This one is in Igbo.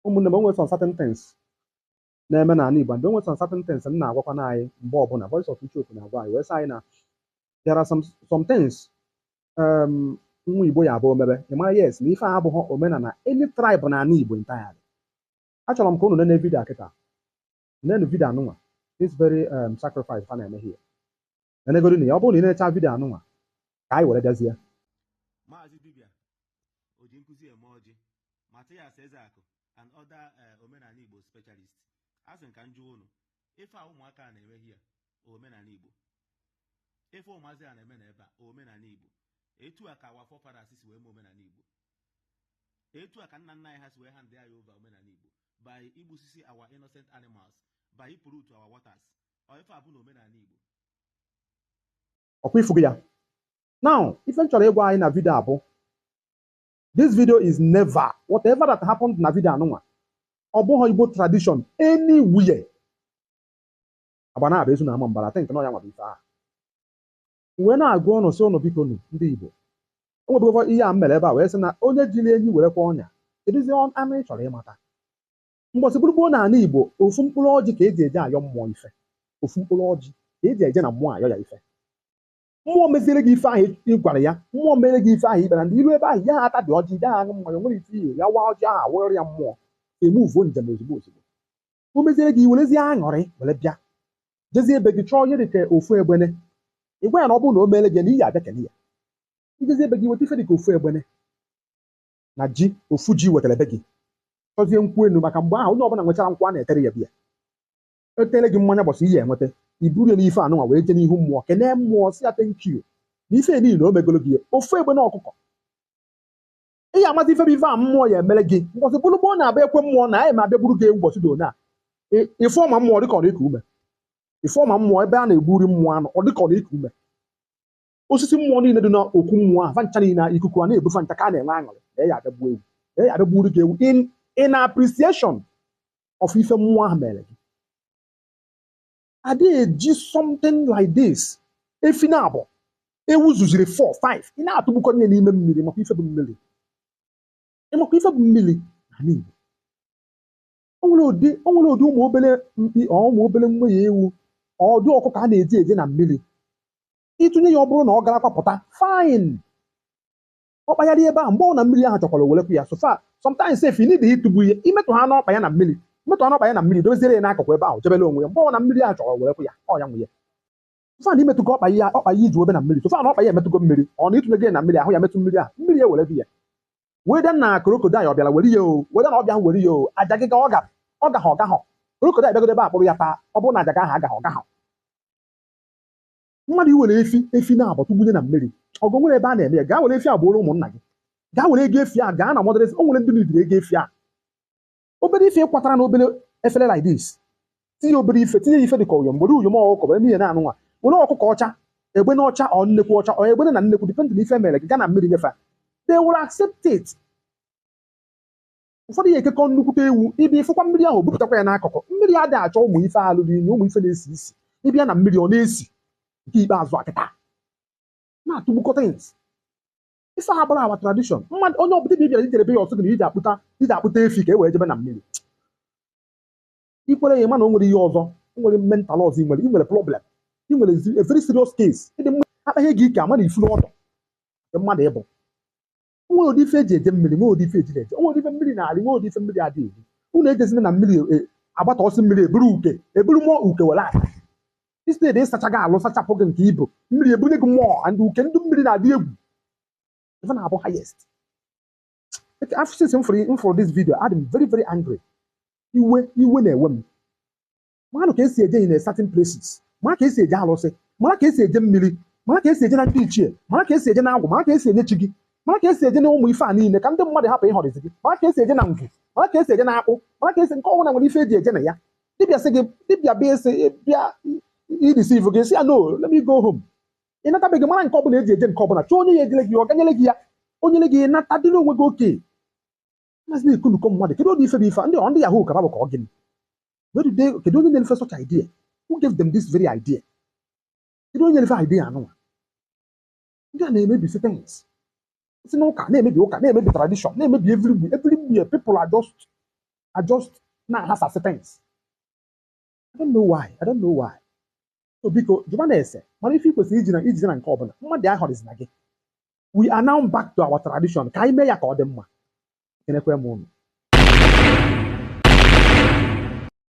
ụmụnne m enwere some certain things na-eme n'ala Igbo and enwere some certain things m na-agwakwanụ anyị mgbe ọbụla voice of Icheoku na-agwa anyị wee sị anyị na there are some some things um, nwa Igbo ya abụ o mebe ị mara yes na ife a abụghị omenala any tribe n'ala Igbo entirely achọrọ m ka unu nene vidio a kịta nenu vidio anụnwa this very um, sacrifice fa na-eme here nenegodunụ ya ọ bụrụ na ị nechaa vidio anụnwa ka anyị were bịazie Maazị Dibia oji nkụzi eme ọjị Matias Ezeakụ and other eh, omenala Igbo specialist asị m ka m jụọ unu ife a ụmụaka a na-eme here omenala Igbo ife ụmụazị a na-eme na ebe a omenala Igbo etu a ka our forefathers si wee mee omenala Igbo etu a ka nna nna anyị ha si wee hand ya over omenala Igbo by igbusisi our innocent animals by ị pollute our waters ife a bụ na omenala Igbo ọkwa ị fugo ya now ife m chọrọ ịgwa anyị na vidio a bụ this video is never whatever that happened na vidio anụnwa ọ bụghị Igbo tradition anywhere Agbanabọ Ezu na Ọmambara think na ọ ya nwa bụ ife ahụ m wee na-agwa ụnụ sị ụnụ biko nụ ndị Igbo o nwebụgokwa ihe a m mere ebe a wee sị na onye jiri enyi were kwa ọnya kedụzi anụ ị chọrọ ịmata mgbọsị bụrụ gboo na ala Igbo ofu mkpụrụ ọjị ka eji eje ayọ mmụọ ife ofu mkpụrụ ọjị ka eji eje na mmụọ ayọ ya ife mmụọ meziere gị ife ahụ ị gwara ya mmụọ mere gị ife ahụ ikpere ndị iru ebe ahụ ya ata dị ọjị ya aṅụ mmanya nwere ife ihe ya waa ọjị ahụ awụrịrị ya mmụọ emuvuo njem ozugbo ozugbo o meziere gị werezie aṅụrị were bịa jezie be gị chọọ ihe dị ka ofu egbene ị gwa ya na ọ bụrụ na o meere gị na ị ya abịa kele ya i jezie be gị weta ife dị ka ofu egbene na ji ofu ji wetara be gị chọzie nkwụ enu maka mgbe ahụ onye ọbụla nwechara nkwụ a na-etere ya bịa etere gị mmanya gbọsị ihe enweta i buru ya n'ife anụnwa wee jee n'ihu mmụọ kenee mmụọ sị ya thank you na ife niile o megolo gị ofu egbene ọkụkọ ị ya amazi ife bụ ife a mmụọ ya emere gị mbọsị bụrụ gboo a na-abịa ekwe mmụọ na anyị ma abịa gburu gị ewu ụbọchị dị one a Ị- ife ọma mmụọ dịka ọ na-eku ume ife ọma mmụọ ebe a na-egburu mmụọ anụ ọ dịka ọ na-eku ume osisi mmụọ niile dị n'okwu mmụọ ahụ fa ncha niile ahụ, ikuku a na-ebu fa ncha ka a na-enwe aṅụrị na ya abịa gbuo ewu na ya abịa gburu gị ewu in in appreciation of ife mmụọ ahụ mere gị adịghị eji something like this efi naabụọ ewu zuziri 4 5 ị na-atụgbukọ ihe n'ime mmiri ị makwa ife bụ mmiri ị makwa ife bụ mmiri n'ala Igbo o nwere ụdị o nwere ụdị ụmụ obere mkpi ọ ụmụ obere nwanyị ewu ọ ụdị ọkụkọ a na-eji eje na mmiri ịtụnye ya ọ bụrụ na ọ gara kwapụta fine ọ kpagharị ebe ahụ mgbe ọ na mmiri ahụ chọkwara o werekwu ya so far sometimes if you need ịtụgbu ihe imetụ ha n'ọkpa ya na mmiri imetụ ha n'ọkpa ya na mmiri doziere ya n'akụkụ ebe ahụ jebere onwe ya mgbe ọ na mmiri ahụ chọrọ o werekwu ya ọ ya nwe ya so far na imetụgo ọkpa ya ọkpa ya iji obe na mmiri so far na ọkpa ya emetụgo mmiri ọ na ịtụnye gị na mmiri ahụ ya metụ mmiri ahụ mmiri ya were gị ya weda na crocodile ọ bịara were ya o weda na ọ bịa were ya o aja gị ga ọ ga ọ gaghị ọ gaghị crocodile bịagodo ebe a kpụrụ ya taa ọ bụrụ na aja gị ahụ agaghị ọ gaghị mmadụ iwere efi efi naabọ tụgbunye na mmiri ọgụ nwere ebe a na-eme ya gaa were efi a gbuoro ụmụnna gị gaa were ego efi a gaa na motherless efi o nwere ndị nidiri ego efi a obere ife kwatara na obere efere like this tinye obere ife tinye ya ife dị ka uyom obere uyom ọkụkọ bụ eme ihe anụnwa were ọkụkọ ọcha egbene ọcha ọ nnekwu ọcha ọ egbene na nnekwu depending na ife mere gị gaa na mmiri nye fa they will accept it ụfọdụ ya ekekọ nnukwute ewu ịbịa ịfụkwa mmiri ahụ bupụtakwa ya n'akụkụ mmiri adị achọ ụmụ ife lụrụ inyi ụmụ ife na-esi isi ịbịa na mmiri ọ na-esi nke ikpeazụ akịta na-atụgbukọta ins ife a abụrọ our tradition mmadụ onye ọbụla dibịa i jere be ya ọ sị gị na iji akpụta iji akpụta efi ka e wee jebe na mmiri i kwere ya mana o nwere ihe ọzọ o nwere mental ọzọ i nwere i nwere problem i nwere zi- a very serious case ịdị mma akpaghị gị ike ama na ifu n'ọdụ nke mmadụ ịbụ nwere ụdị ife eji eje mmiri nwere ụdị ife eji eje nwere ụdị ife mmiri na-eri nwere ụdị ife mmiri adị eri unu ejezina na mmiri e, agbatọsị mmiri eburu uke eburu mmụọ uke were nata instead ịsacha gị alụ sachapụ gị nke i bu mmiri ebunye gị mmụọ and uke ndị mmiri na-adị egwu ife na-abụ highest after since m fụrụ m fụrụ this video adị m very very angry iwe iwe na-ewe m maanụ ka esi eje in a certain places mara ka esi eje alụsị mara ka esi eje mmiri mara ka esi eje na ndị ichie mara ka esi eje na agwụ mara ka esi enye chi gị mara ka esi eje na ụmụ ife a niile ka ndị mmadụ hapụ ịghọrịzi gị mara ka esi eje na ngwu mara ka esi eje na akpụ mara ka esi nke ọbụla nwere ife eji eje na ya dibịa sị gị dibịa bịa esi bịa ideceive gị sị ya no let me go home ị nata be gị mara nke ọbụla eji eje nke ọbụla chọọ onye ya ejele gị ya ọ gaa nyere gị ya o nyere gị nata dịrị onwe gị okay Maazị na-ekunukọ mmadụ kedu ụdị ife bụ ife a? ndị ọ ndị yahoo ka fa bụ ka ọ gịnị Where did they- kedu onye nyere fa such idea who gave them this very idea kedu onye nyere fa idea anụnwa ndị a na-emebisi things si n'ụka na-emebi ụka na-emebi tradition na-emebi everywhere everywhere people are just are just na-aghasasị things I don't know why. I don't know why. So biko jụbanụ ese mara ife i kwesịrị iji eje na nke ọbụla mmadụ aghọrịzina gị we are now back to our tradition ka anyị mee ya ka ọ dị mma ekenekwaa m unu